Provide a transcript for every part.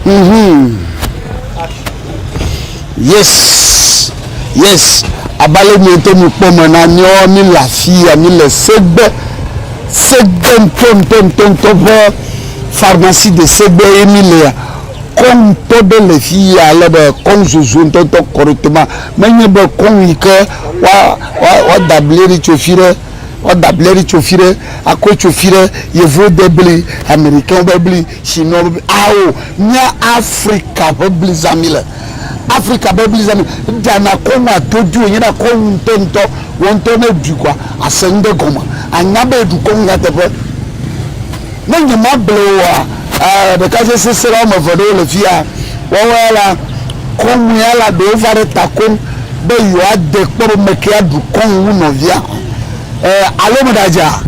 Mhm. Yes. Yes. Abale mi to mi kpɔ me na nyɔ mi le afi ya mi le segbe segbe ntɔntɔntɔntɔ ƒe pharmacie de segbe ye mi le ya. Kɔn tɔ ɖe le fi yɛ ale be kɔn zozo ŋutɔ ŋutɔ kɔ ɖe to ma. Me nye be kɔn yi ke wa, wa, wa da bli ɖe tso fi ɖe, wa da bli ɖe tso fi ɖe, a kɔe tso fi ɖe, Yevuwo de bli, Americains be bli, Chinois be bli, ao nye Afrika ƒe bli zã mi le. Afrika be bli zã mi. Eɖa na kɔn wa do dui wonye na kɔn ŋutɔ ŋutɔ. Wɔ ŋutɔ ne ɖui kɔa, a se ŋɖe gɔme. A nya be eɖu kɔn nyateƒe. Ne nyemable o oa, aa, ɖekadze sesẽla woame eve ɖewo le fiya. Woawo ya la, kɔŋu ya la ɖewo va ɖe ta koŋ be yewoade kpɔ be meke aɖu kɔŋu wu nɔvia, e, alo meɖadze a?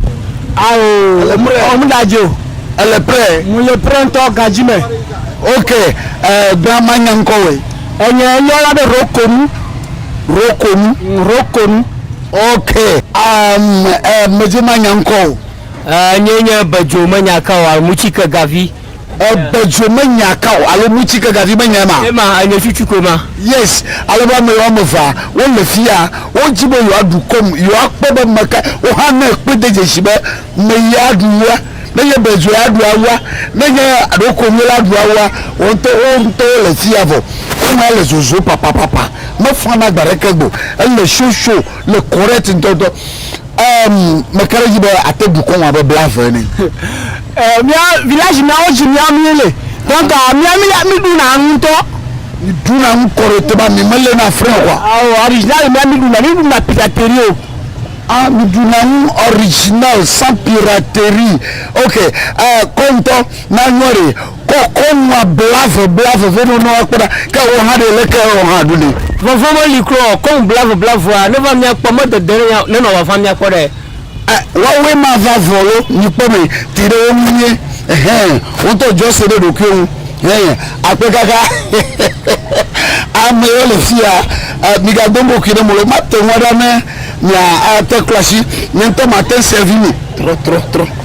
Ao, Ele prɛ. ɔ, meɖadze o. Ele prɛ. Mele prɛ ŋutɔ gadzi me. Ok, e, bla manya ŋkɔ wòe. Enye yɔ la be Rokonu. Rokonu. Rokonu. Ok, am, e, medze manya ŋkɔ o. Enyee nye bedzo menya ka o alo mutsike gavi. Ebedzo menya ka o alo mutsike gavi menyae ma? Ema, enye tsutsu koe ma. Yes, ale be ame woame evea wole fiya, wodi be yewoaɖu kom, yewoakpɔ be meka woxa ne ekpɔe de dzesi be meye aɖu wua, ne nye bedzo ya ɖu awua, ne nye alo konye la ɖu awua, wo ŋutɔ wo ŋutɔwo le fiya vɔ. Ema le zozom papapapa, mefana gbe aɖeke gbe o, ele show show, le correct ŋutɔŋutɔ. Emm me ka ɖe dzi be ate dukɔ ŋu abe bla eve ene. Emm mía village mea wo dzi mía mí le donc mía mí mí ɖu na nu ŋutɔ. Mi ɖu na nu kɔɖe te ba mi me le na fre kɔa. Ao original mía mí ɖu na mí ɖu na piraterie o. Ah mi ɖu na nu original sans piraterie ok eh kɔ ŋutɔ na nua ɖe. Kɔ kɔnua blave blave vɛ nɔ nɔa kpɔɖa ke wɔ hã ɖe leke ewɔ hã ɖu nɛ. Vɔvɔ̃ me li kura o kɔnu blave blavea ne va mia kpɔ me dede ne ne nɔ vava mia kpɔ ɖe. E wawoe ma va vɔ lo mi kpɔ me ti ɖe wo nu nyuie ehɛ wo ŋtɔ djɔ se ɖe ɖokuiwo nu hɛ akpe kaka ame yɔ le fia e mi ga domo kui ɖe mo lo ma te ŋua ɖa ne mia a te klɔ asi nye ŋtɔ ma te ŋ sɛvi mi trɔ trɔ trɔ.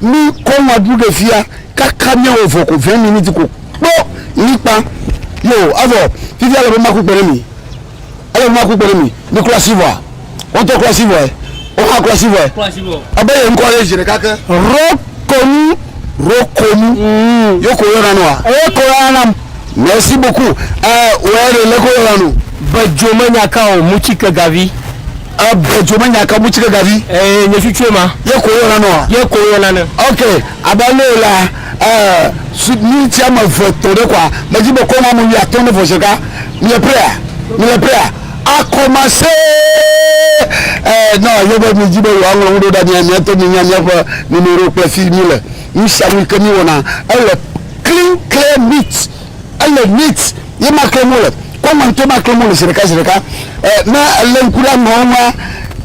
Mi kɔ ŋua ɖu ɖe fia kaka mia wɔ vɔ ko vɛn miniti ko kpɔ likpa yo avɔ fifia ele be ma ku kpe ɖe mi ele be ma ku kpe ɖe mi mi kura si vɔa wɔn tɔ kura si vɔe wɔn hã kura si vɔe ebe yɛ ŋkɔ yɛ zi ɖeka ke rɔ konu rɔ konu mm. yo ko yɔ nanu wa eye ko yɔ nanam merci beaucoup ɛ wɛ ɖe lɛ ko yɔ nanu. Bedzo menyaka o, muchike gavi. Ebe dzo me nyaka mu tsike gavi. Eye nye tsutsu ema. Ye ko yɔna nɔa. Ye ko yɔna ne. Ok abe ale la eh, miniti ame eve tɔ ɖe kɔa medzi be kɔna ame wui atɔ ne vɔ zeka mile prea mile prea akɔmase eh, na ye be midzi be yewoa ŋlɔ ŋuɖo ɖa mia mia to minya miaƒe numerowo kple fi mile nusianu yi ke mi wɔna ele clean clear meat Ele neat ye ma klem wole. Kɔ ŋua ŋutɔe ma klem wole zi ɖeka zi ɖeka. E, ne elé ŋku ɖe ameawo ŋua,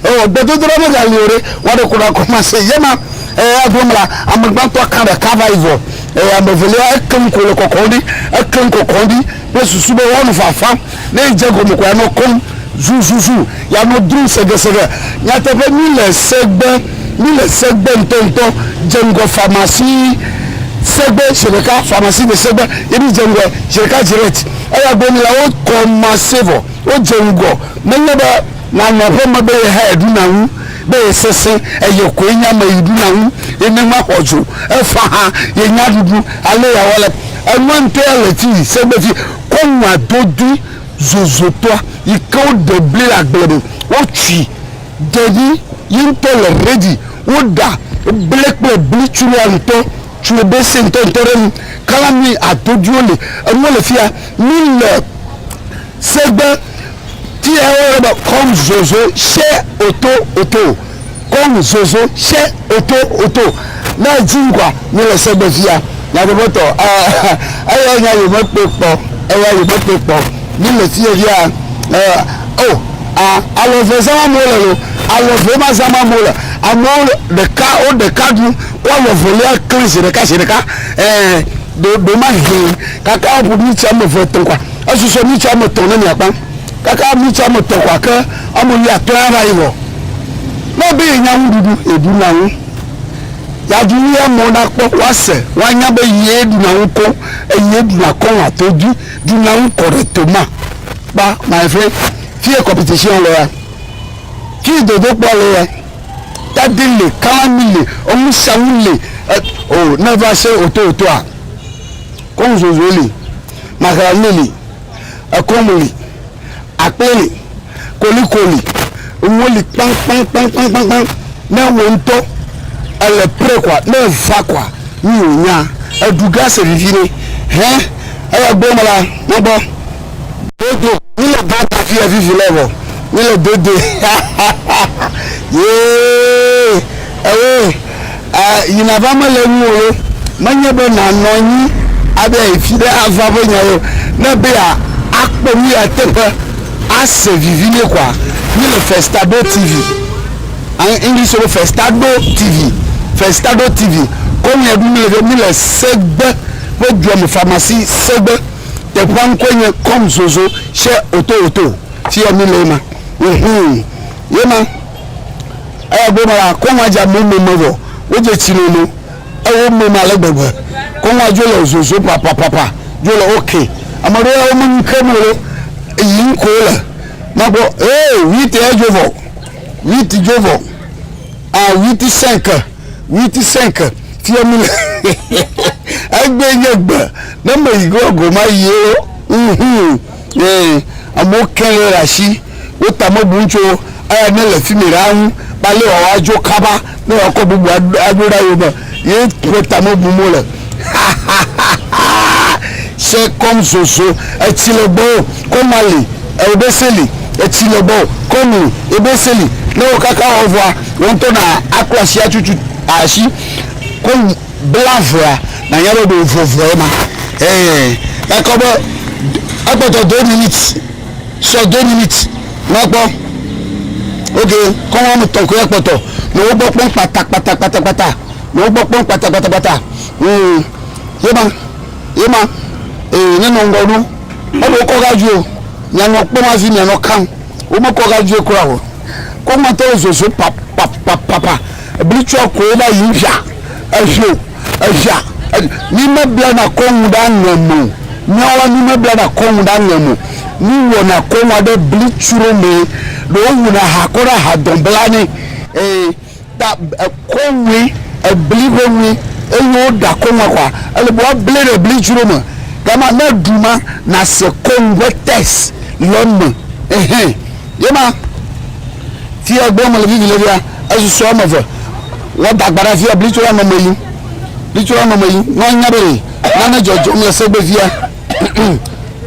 o, gbedodoɖa mega li o ɖe, woaɖe ku ɖe akɔ ma se. Ye ma, e, eƒe me la, ame gbãtɔa kã ɖe ka va yi vɔ. E, ame evelia, eklem ko le kɔkɔm ɖi. Eklem kɔkɔm ɖi kple susu be woanɔ fafam. Ne yi dze gɔme ko ya nɔ kɔm zuzuzu, ya nɔ drum segeseɖe. Nyateƒe, mí le segbe, mí le segbe ŋtɔ ŋtɔ dze ŋgɔ famasi segbe zeɖeka, famasi le segbe ye mí dze ŋgɔɛ zeɖeka direct. Eya gbe mí la wo kɔmase vɔ wo dze ŋgɔ. Me nye be na nɔ ƒe me be ye hã eɖu na ŋu be ye sese eye koe nye ame yi ɖu na ŋu ye ne ma xɔ dzo efa hã ye nya ɖuɖu ale ya wɔ le enua ŋtɔ ya le ti yi segbe ti. kɔ nua do ɖi zozotɔa yi ke wo ɖe bli le agble me wo tui ɖe ɖi yi ŋtɔ le ready wo ɖa ble kple bli tsu nua ŋtɔ tsu wo be se ŋtɔ ŋtɔ ɖe nu kala nui ado ɖi wo le enuwo le fia mi le segbe ti ewo le be kɔm zozo she oto oto. kɔnu zozo tsɛ oto oto na edzi ŋkwa mi le segbe fia nyateƒe tɔ eh eya nya yo me kpe kpɔ eya yo me kpe kpɔ mi le fie fia eh oh ah alɔ ve zama mo le lo alɔ ve ma zama mo le amewo ɖeka wo ɖeka du ko alɔ velia kle zi ɖeka zi ɖeka eh ɖo ɖo ma hɛn kaka ƒo mi tsɛ me ve tɔ kwa esusɔ mi tsɛ me tɔ ne mi akpa Kaka ami tso ame tɔn kɔa ke ame lia klã ya va yi vɔ. Ne ebe ye nya nuɖuɖu ye ɖu na ŋu. Ya ɖu nu ye amewo na kpɔ wa se wa nya be ye ɖu na ŋu koŋ eye ye ɖu na kɔŋ ato dui ɖu na ŋu kɔ ɖe to ma. Kpa my friend fi ye competition le ya fi yi dodo kpɔ le ya tadi le kala mi le enu sia nu le e o ne va se oto otoa kɔŋ zozoe le maxa le le. Ekɔmu li, akple li, koliko li, nuwo li kpaŋkpaŋkpaŋkpaŋkpaŋ. Ne wò ŋutɔ èle prêt kɔa, ne eva kɔa, nu yi wònya, èɖu ge ase vivi nɛ. Hẽ, eya gbɔ mela, na gbɔ. Dodo, mí le gã ta fia vivi lɔ vɔ, mí le dodoe. Hahahaha. Yee, ewe. E, yi nava mele ŋuwò ɖo, menye be nànɔ anyi abe yi fiɖe ava ƒe nyae o. Ne be ya akpɔ nu ya teƒe ase vivi nɛ koa, mi le Festado TV, an English be Festado TV, Festado TV, kɔ nu ya ɖu mi le ge, mi le Segbe ƒe dua me pharmacie Segbe. Teƒea ŋkɔe nye Come Zozo chez Oto Oto. Fiya mi le ye ma. Mhum, ye ma. Eya gbe ma la, kɔŋua dza me me me vɔ wodze tsi nɔ nɔ ewo me me ale gbegbe. Kɔŋua dzo le zozo papapapa dzo le wo ke. Ame ɖewo ya wo me nu kem wole eyi ŋko wole makpɔ ee wit ya dzo vɔ wit dzo vɔ a wit sɛnke wit sɛnke fia mi le egbe nye gbe ne me yi gɔ goma yi wo. Uhum. Ye amewo ke le ɖasi wo ta me bum tso eya ne le fimi ɖaa ŋu be ale wòawa dzo kaba ne wòakɔ bubu aɖo ɖa yewo me ye ƒe ta me bum wole. Hahahahaa! Se kɔm zozo, etsi le gbɔ o, kɔm ali, eo ɖe se li, etsi le gbɔ o, kɔm li, eo ɖe se li, ne wò kaka wɔ vɔa, wò ŋutɔ na akpla asi atutu asi, kɔm. Bla avɔa, nànya be ɖe wòvɔ vɔe ma. Ɛɛ, ekɔ be ekpɔtɔ deux minutes, sɔ deux minutes na kpɔ. Ok, kɔ wɔme tɔ̃ koe ekpɔtɔ. Nɔ wo gbɔ kpɔm kpatakpatakpatakpata. Nɔ wo gbɔ kpɔm kpatakpatakpata. Ŋ, ye ma, ye ma. Ee, nenɔ ŋgɔ ɖo. Eɖe wokɔ ga dzoe o. Mìanɔ kpɔm hafi mìanɔ kam. Womekɔ ga dzoe kura o. Koŋuatɔ le zɔzɔm papapapapa. Ebli tsɔ koe na yi ŋfia efiɔ efia mi me bla na kɔ ŋu ɖa ŋɛ mo miawa mi me bla na kɔ ŋu ɖa ŋɛ mo mi wɔ na kɔ ŋua ɖe bli tsro mɛ ɖo wu na ha kɔ ɖa ha dɔn bla nɛ ee ta ekɔ ŋue ebli ƒe ŋue eye wo ɖa kɔ ŋua kɔa ele bua ble ɖe bli tsro me gama ne ɖu ma na se kɔ ŋu ƒe test le me ehe. Ye ma, fia gbɔ mele vivi le fia, ezu sɔ ame ve, wɔ dagbaɖa fia bli tso ame me yi, bli tso ame me yi, nɔ anya be yi, nane dzɔdzɔm le segbe fia,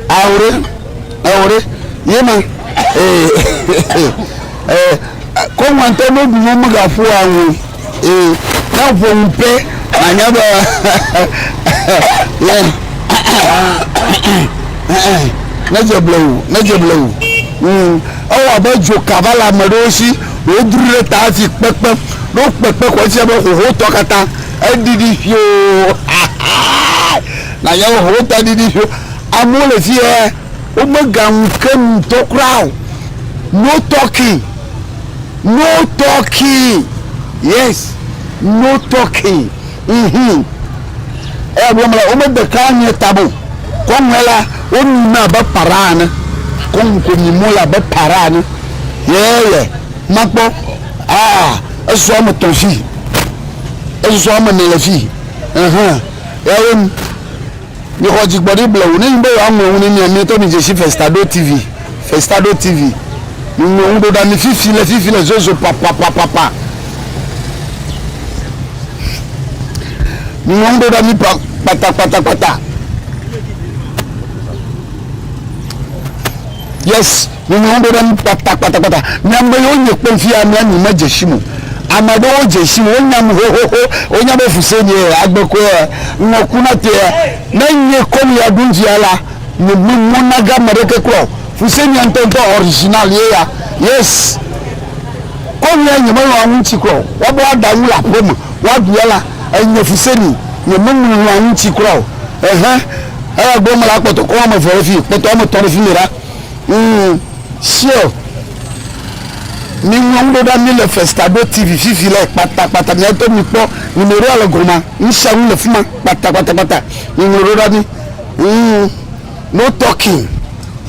ao ɖe, ao ɖe, ye ma, e, e, e, e, kɔŋwantɛ no ɖu nɔ mega ƒoa ŋu. Ee, ne ƒo nu pɛ, nànya be yɛ nedze ble o, nedze ble o. Mm, ewɔ abe dzoka va le ame ɖewo si, wodru ɖe ta hafi kpekpe. Ne wokpekpe ko efia be xoxotɔ katã eɖiɖi ƒio. Nànya be xoxotɔ ɖiɖi ƒio. Amewo le fi yɛ, womegaŋu ke nu ŋutɔ kura o. No talking. No talking yes no talking uhmm eya gblɔm la wome de ka nyuie tame o kɔŋue la wo nyi me abe para ene kɔŋu ko nyi mole abe para ene yeye makpɔ aa esɔsɔ ame tɔn fii esɔsɔ ame ne le fii ehe ya wo nu. Mixɔ dzigbɔɖi blewu ne nyi be yewoaŋlɔ ŋu ne mia mietɔ mi dzesi Festado TV, Festado TV. Miŋlɔ ŋu ɖo ɖa mi fifi le fifi le zozo papapapapa. Miŋlɔ ŋu ɖo ɖa mi pa kpata kpata kpata. Yes. Nye nyawo ɖo ɖe ŋu kpata kpata kpata. Mi ame yiwo nye kpem fiya mia mi me dze sim o. Ame aɖewo dze sim, wo nyam xoxoxo, wo nya be fuse nye ya, agbe koe ya, ŋɔ ku na te ya. Ne nye kɔ nu ya ɖum fiya la, mi me mɔ na ge ame ɖeke kura o. Fuse nye ya ŋutɔ ŋutɔ, original ye ya. Yes. Kɔ nu ya nye me lɔ̃a ŋuti kura o. Wa be wa ɖa nu le aƒe me, wa ɖu ya la, enye fuse ni. Nye me lɔ̃a ŋuti kura o. Ehe. Eya gblɔ me la kpɔtɔ kɔ ame eve ɖe fi, kpɔtɔ ame etɔ ɖe fimi ɖa. Ŋ, sure. Miŋlɔ ŋɖo ɖa mi le Festado TV fifi le kpata kpata mia tɔ mi kpɔ numeroa le gɔma. Ŋsiaŋu le fima kpata kpata kpata. Miŋlɔ ɖo ɖa mi. Ŋ, no talking,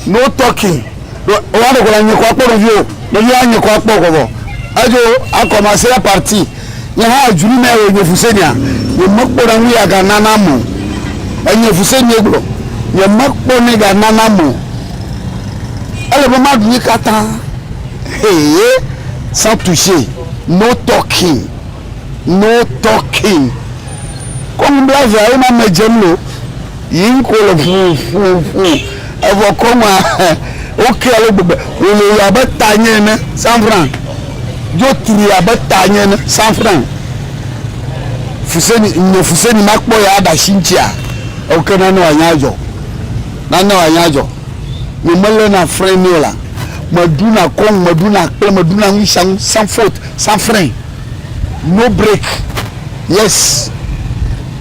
no talking. Ɖo woa ɖe kɔ la nye kɔ akpɔ nɔviwo. Nɔviwo a nye kɔ akpɔ kɔkɔ. Edzo akɔ ma se la parti. Nye hã dzru nɛ wònye fusenya, nye mekpɔ ɖe ŋu yeaga na nam o. Enye fusenyee gblɔ, nye mekpɔ nɛ ga na nam o. Ele be maɖu ye katã. Hee, sans toucher, no talking, no talking. Kɔ nu bla vea ye ma medze nu o. Yiyim ko le ƒuƒuƒu, evɔ kɔŋua wokea le gbegbe, wòlolo abe tanye ene, sanfran dzo trui abe tanye ene, sanfran fuseni, nye fuseni makpɔ ya aɖe asi ŋutia? Eo ke nane wòanye adzɔ, nane wòanye adzɔ, nye melena fre nɛ o la, meɖuna kɔŋ, meɖuna kple meɖuna nusianu, sanfot, sanfran, no break, yes.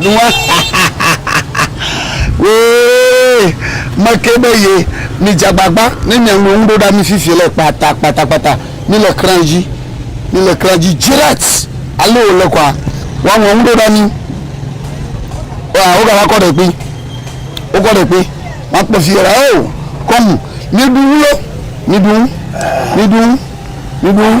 Nua hahahaha ooee mekee be ye mi dza gbagba ne mia ŋlɔ ŋu ɖo ɖa mi fifi le kpata kpata kpata mi le kran dzi mi le kran dzi dzirat ale wo le kɔa wa ŋlɔ ŋu ɖo ɖa mi wa wo gava kɔ ɖe kpi wo kɔ ɖe kpi wa kpɔ fi yɛra o kɔmu mi ɖu ŋu lo mi ɖu ŋu mi ɖu ŋu mi ɖu ŋu.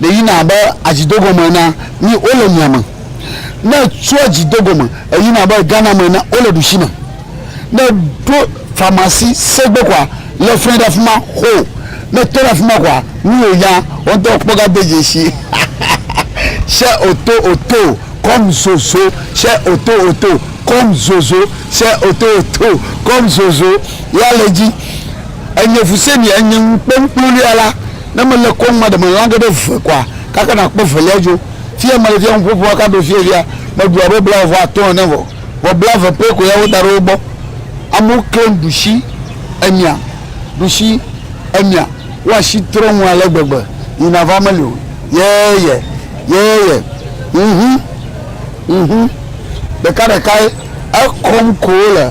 Ɖe yina abe adzi do gome ene a? Nyi wo le mia me. Ne etsɔ adzi do gome, eyina abe Ghana me ene a, wo le ɖushi me. Ne eɖo pharmacie se gbe kɔa, le fre ɖe afima xoo. Ne etɔ ɖe afima kɔa, nu yi onya, wɔ ŋtɔ o kpɔ ga de dzeshi. Shɛ oto oto, kɔm zozo, shɛ oto oto, kɔm zozo, shɛ oto oto, kɔm zozo. Yea le dzi. Enye fu se mi, enye ŋu kpɔ ŋkplo lia la, Ne mele kɔŋ maɖe me lã geɖe ve koa, kaka nàkpɔ evelia dzo. Fie mele fia nuƒoƒo aka ɖo fie fia, meɖu abe blaeve vɔ atɔ̃ ene vɔ, vɔ blaeve pɛ ko ya woda ɖe wo gbɔ. Amewo klẽ ɖushi emia, ɖushi emia, wo ashi trɔ ŋu ale gbegbe, yina va meli o. Yɛyɛ, yɛyɛ, ŋhun, ŋhun, ɖekaɖekae, ekɔm ko wole.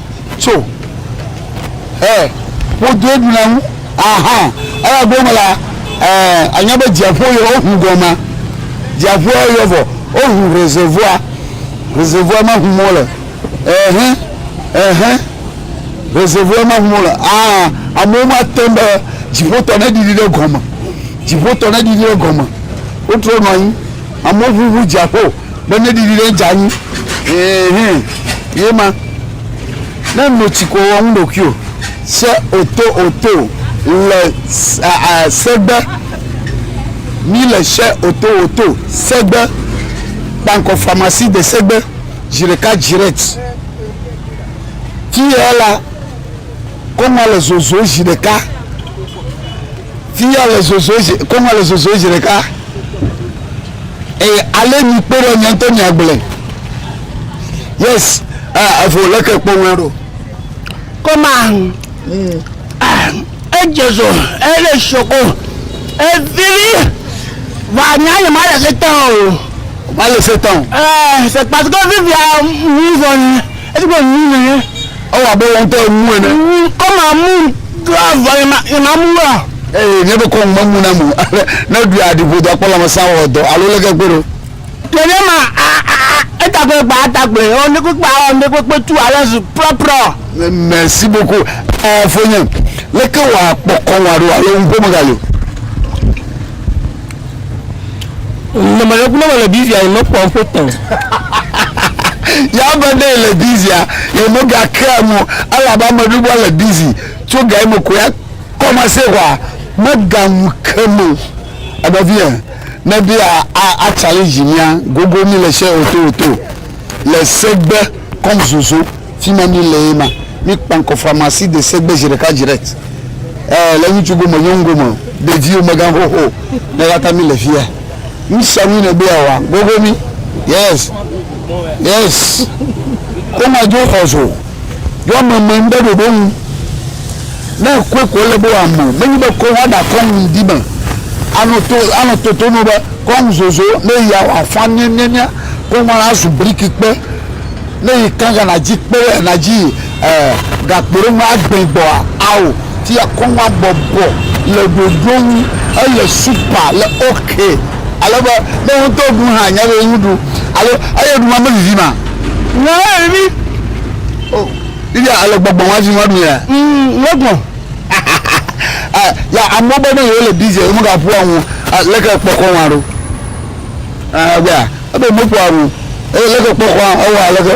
tso ɛ ƒodoe ɖuna ŋu aha eya gbɔ me la ɛ anya be dziaƒo yɔ wohu gɔma dziaƒoa yɔ vɔ wohu reservoir reservoir ma hu mɔ le ɛhɛ ɛhɛ reservoir ma hu mɔ le aha amewo ma te be dziƒotɔ ne ɖiɖi ɖe gɔme dziƒotɔ ne ɖiɖi ɖe gɔme wotrɔ nɔ anyi amewo ʋuʋu dziaƒo. Be ne ɖiɖi ɖe dza anyi ɛhɛ ye ma ne no tsi ko wɔ ŋu ɖokui o se o to o to le segbe mi le se o to o to segbe kpankɔ famasi de segbe zi ɖeka dziret ti yɛ la. Koŋua le zozo zi ɖeka. Tinya le zozo zi, koŋua le zozo zi ɖeka. Eye ale mi kpe ɖe nye ŋutɔ nye agble. Yes, ah, evo le ke kpɔ ŋua ɖo. Koma, mm. ah, edze zo, ele shoko, evili, va nya nye ma le se tán o. Ma le se tán. Eh, c'est parce que vivia, nous on, est-ce que nous Ewɔ abe wò ŋutɔ èmu ene. Ŋu kɔ mamu do avɔ ye ma ye mamu wɔ. Eye nye ɖokɔ ŋu memu nam o. Ale ne ɖui aɖi ƒodo akpɔ lãmesẽ awɔ dɔ alo leke akpe ɖo. Ɖe nye ma a a a eta kple gba ata kple ɔ ne kpekpe a ɔ ne kpekpe tu alo zu prɔprɔ. Merci beaucoup ɛ fonye leke wɔ akpɔ kɔ ŋu aɖo alo ŋu ƒo me gali o. Nɔnɔme ɖe le Biblia yi mekpɔ ƒo tɔ. Ya be ne le Biblia yi mega kea mo ala ba me ɖubo le Biblia tso ga mo ko ya kɔma se wa mega mu ke mo. Ebe vi e ne bi a a challenge mia gogo mi le se oto oto le segbe kɔm zozo. Fima mi le ye ma. Mi kpankɔ pharmacie de segbe zi ɖeka direct eh le ŋutsu go me nyɔnu go me ɖeviwo megan xoxo ne yata mi le fia nu sia nu ne be ya wa gogo mi yes yes ko ma jo xɔzo jo ame me ŋbe ɖoɖo ŋu ne koe ko le be wa me me nyi be ko wa da kɔ ŋu di me ano to ano toto no be kɔ ŋu zozo ne ya wa fa ne ne ne ko ma la zu briki kpe Ne yi kankan na dzi kpe ɖe na dzi e gakpo ɖe ŋu agbẽ gbɔa ao ti ya kɔŋ abɔ bɔ le ɖoɖo ŋu ele supa le oke ale be ne wo ŋutɔ ɖu hã nya be ŋu ɖu alo eye ɖu ma me vivi ma nya eye vivi o vivi a ele gbɔgbɔ ŋu avi ŋu aɖu ya ŋu gbɔ ya amewo be ne yewo le bizi eme gaƒua ŋu leke kpɔkɔ ŋu aɖo ɛɛ gbea. Ebe meƒoa nu eye leke kpɔ kɔa ewɔ aleke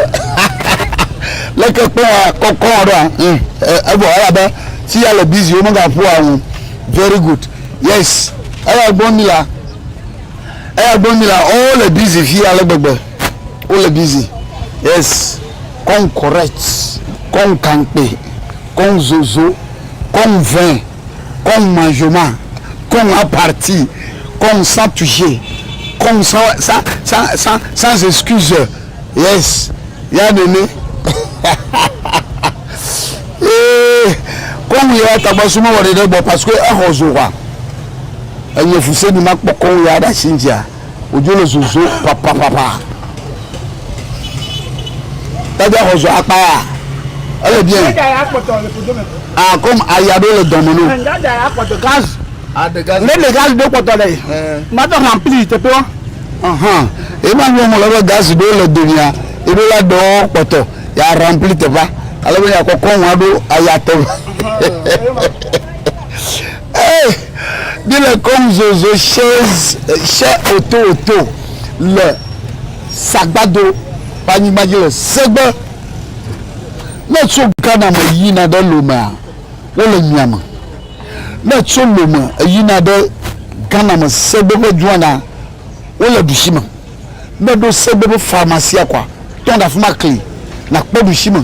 leke kpɔ kɔkɔ ɖoa mm evɔ elabe si ya le busy wo mega ƒoa nu very good yes eya gbɔ mi la eya gbɔ mi la o le busy fi ale gbegbe o le busy yes kɔn correct kɔn kankpe kɔn zozo kɔn vɛ. kɔŋ manzoma, kɔŋ aparti, kɔŋ san touche, kɔŋ san san san san sans excuse. Yes. Ya nene. Ee, kɔŋ ya tagba suma wɔ ɖeɖe gbɔ parce que exɔ zo hwa. Enye fuse ni makpɔ kɔŋ ya ɖe asi ŋtia. wòdzo le zozo ƒaƒaƒaƒa. Tadia xɔ zɔ akpa ya. Ele bien. Ah, comme aya ɖo le dɔme no. Gaz. Ah, de gaz. Ne de gaz ɖo kpɔtɔ le. Ma dɔ rempli teƒewo. Ahan. Ema nyɔ mo le be gaz ɖo le domia. Eɖo la dɔ kpɔtɔ. Ya rempli teƒea. Ale be ya kɔkɔ ŋua ɖo aya teƒe. Ee, míele kɔnu zozo shɛ otowoto le sagbado ƒe anyigba dzi le Segbe. Ne ètso Ghana me yina ɖe Lomea, wole mia me. Ne ètso Lome yina ɖe Ghana me Segbe ƒe dua mea, wole ɖusi me. Ne ɖo se be me faa ma sia kɔa tɔn ɖe afima kli na kpɔ ɖusi me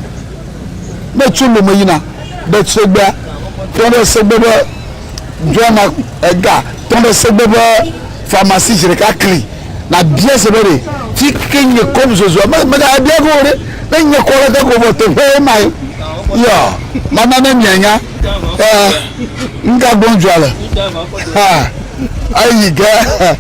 ne tso lome yina ɖe tsegbea tɔn ɖe se gbe be dɔa na ega tɔn ɖe se gbe be faa ma si zireka kli na bia se be ɖe ti ke nye kɔm zozua me me ga bia go ɖe ne nye kɔ le gago vɔ te ƒe ma ye ya ma na ne mia nya eh nga gbɔn jua le ha ayi ge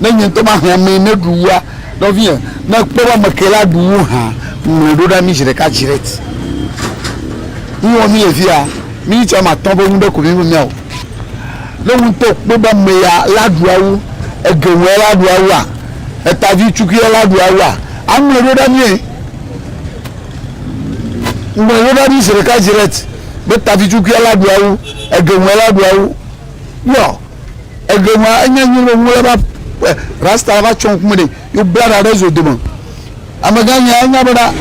Ne nye ŋutɔ mahe amee ne ɖu wua, nɔvinyɛ, ne ekpɔ be ame ke la ɖu wu hã, ŋlɔe ɖo ɖa mi zi ɖeka dzi ɖe eti. Nu wɔ mi le fia, mi ŋutɔ ame atɔ̃ be nu ɖe ko mi me mia o. Ne wo ŋutɔ kpɔ be ame ya la ɖu awu, ege ŋu ya la ɖu awu a, eta vi tsukui ya la ɖu awu a, aŋlɔe ɖo ɖa mi. Ŋlɔe ɖo ɖa mi zi ɖeka dzi ɖe eti be ta vi tsukui ya la ɖu awu, ege ŋu ya la ɖu awu. Yɔ. Egbe ma enya nyuie be ŋu le va eh, rasta va tsɔ ŋkume ɖe yo bla ɖa ɖe zo dome. Amegã nya enya bena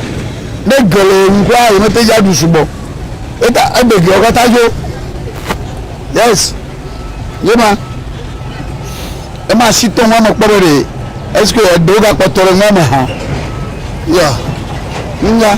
ne ge le ŋu kura ye mete dzi aɖu sugbɔ. Eta egbe geawo katã dzo. Yes. Ye ma. Ema si tɔ ŋua me kpɔ ɖe ɖe. Est-ce que eɖewo gakpɔtɔ ɖe ŋua me hã? Yeah. Nya.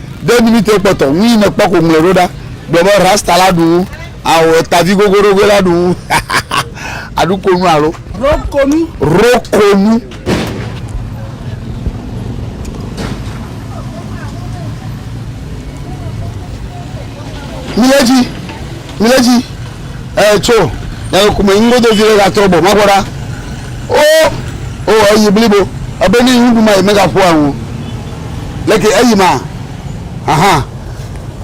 Ɖe minitiwo kpɔtɔ ŋu yi nèkpɔ ko ŋlɔe ɖo ɖa. Gblɔ be, Rasta la ɖu ŋu ao etavi gogoɖogoe la ɖu ŋu aɖu ko nu alo. Ro ko nu. Ro ko nu. Mile dzi. Mile dzi. eh, tso nyameku me ŋgodo vi ɖe gatrɔ bɔ magbɔ ɖa o o eyi blibo ebe ne ŋuɖu ma yi megaƒo aŋu leke eyi ma aha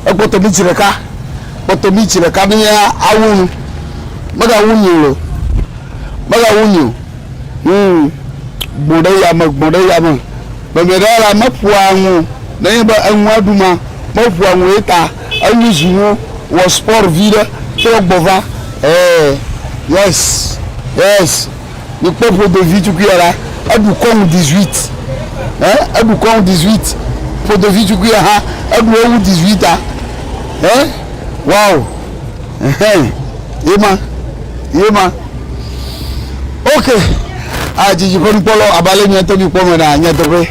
ekpɔtɔ mi tsi ɖeka kpɔtɔ mi tsi ɖeka ne awu nu megawu nyi o megawu nyi o hmm gbɔn ɖe yame gbɔn ɖe yame mɛmɛ ɖe la meƒoa ŋu nenye be eŋua ɖu ma meƒoa ŋu ye ta Enyi zi wo wɔ sport viɖe trɔ gbɔ va ee yes yes mi kpɔ ƒodo vi tukuia la eɖu kɔnu 18 he eɖu kɔnu 18 ƒodo vi tukuia ha eɖu ewu 18 a he wow ehe yema yema ok a dzidzi ƒe nukpɔlɔ abale mi ŋutɔ mi kpɔ me na nyateƒe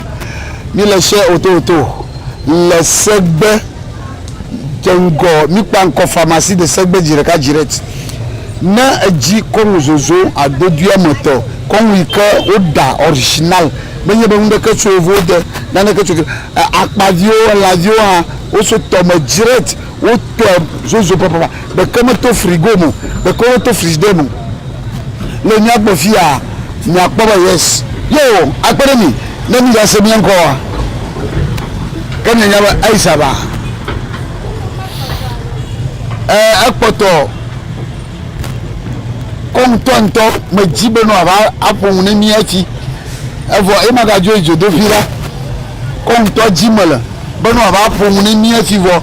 mi le share oto oto le segbe dze ŋgɔ mikpa ŋkɔ pharmacie de segbe dzi ɖeka dzi ɖe ti ne edzi kɔnu zozo adodui ame tɔ kɔnu yi ke wo ɖa original me nye be nu ɖeke tso wo vo de na ɖeke tso akpa viwo ela viwo hã wo so tɔ me dzi ɖe ti wo tɔe zozo papa Ɖeke meto frigo me o, ɖeko woto frigidaire me. Le mía gbɔ fiya mìakpɔ be yes yewo akpe ɖe mì ne mìgase mía ŋkɔ oa? Ke mìanya be Aisha va. Ẽ, ekpɔtɔ kɔ ŋutɔŋutɔ medzi be nɔ ava aƒo nu ne mí hafi. Evɔ ye magadzo yi dzodoƒi la. Kɔ ŋutɔ dzi mele be nɔ ava aƒo nu ne mí hafi vɔ.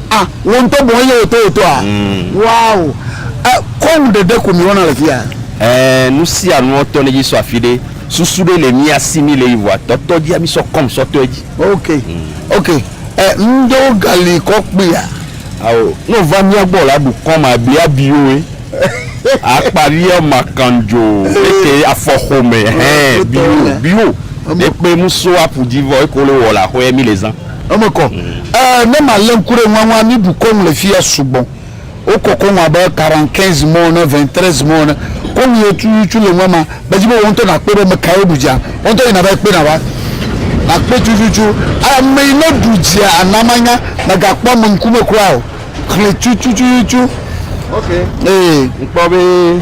Ah, wò ŋutɔ bɔ eye wòto wòtoa? Mm. Wow. Eh, kɔnu ɖeɖe ko mìwɔna le fiya. Eh, nu sia nuɔ tɔ nedzi sɔ afi ɖe. Susu ɖe le mía si mí le yi vɔa tɔtɔ dzia mí sɔ kɔm sɔ tɔe dzi. Ok. Ok. Eh, ŋɖewo gali kɔ kpuia? Ao, ne wòva mía gbɔ la ɖu kɔm abi abiyoe. Akpa viɔ makan jo. Eke afɔ xome. Hɛn, biyo, biyo. Ekpe muso apu dzi vɔ eko le wɔ le axɔɛ mí le zã. Eme kɔ. Ɛɛ, ne malé ŋku ɖe ŋua ŋua, mí bu kɔ ŋu le fiya sugbɔ. Wo kɔ kɔ ŋu abe quarante quinze mots ene, vingt treize mots ene. Kɔ ŋu ye cucucu le ŋua ma, me dzi be wò ŋutɔ nakpɔe be mekae woɖu dzia. Wò ŋutɔ yina va yi kpɔe nava. Nakpɔe cucucu. Ame yi ne ɖu dzia, ana manya. Mègakpɔ ame ŋkume kura o. Xlẽ cucucucucu. Ok. Ee. Ŋkpɔ be.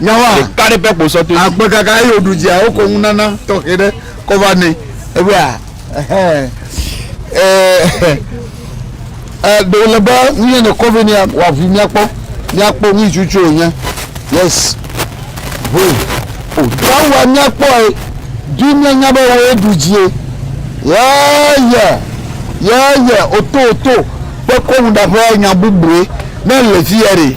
Nyawa ɖeka ɖe ƒe kposɔtɔe. Agbe kaka eye wòɖu dzia, wokɔ ŋunana tɔxɛ ɖe kɔ va nɛ. Ebe a, ɛhɛn, ɛ, ɛ, ɖe wòle be nu yɛ nèkɔ vɛ nɛa, wòaʋui míakpɔ, míakpɔ nu ŋutsu tsoe wònye. Yes. Ʋui. O, Nyawa míakpɔe, ɖi míanya be wòe ɖu dzie. Yɛ, yɛ, yɛ, yɛ, oto, oto, kpekɔ nuɖaƒe nya bubue, ne èle fiyɛ ɖe.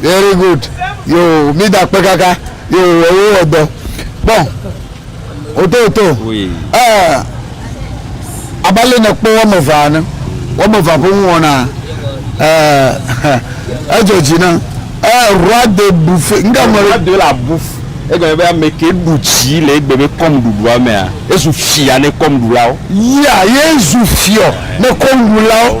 very good yo mi da kpe kaka yo ewo wɔ dɔ bɔn oto oto ɛɛ abalẹ ne kpɔ wɔme vaa ne wɔme vaa ƒe ŋu wɔna ɛɛ edzɔ dzi na ɛɛ roi de bufe nga mɔ roi de la buf egɔme be ame ke ɖu dzi le egbe be kɔm ɖuɖua mea ezu fia ne kɔm ɖulawo. yia yezu fiɔ ne kɔm ɖulawo.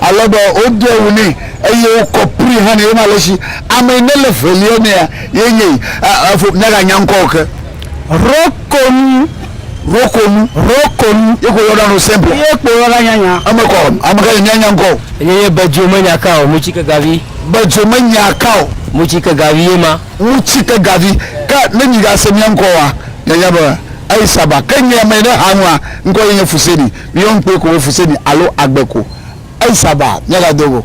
Ale be woɖe ŋu nɛ eye wokɔ kpli hã nɛ. Wonye ale si ame yi nele ŋelia mea ye nye yi. Efo miaganya ŋkɔ o ke. Rɔkonu. Rɔkonu. Rɔkonu. Ye ko yɔna nu simple. Ye kpo yɔna nyanya. Eme kɔ o. Ame ka yi mianya ŋkɔ o. Ye nye Bedzo menya ka o. Mutsi ke gavi. Bedzo menya ka o. Mutsi ke gavi ye ma. Mutsi ke gavi. Ke ne migase mia ŋkɔ oa, mianya be Aisaba. Ke nye ame yi ne ha nua, ŋkɔ ye nye Fuseni. Míeyɔ ŋukpe ko wofu se mí alo agbe ko. Eisa ba, míagado go.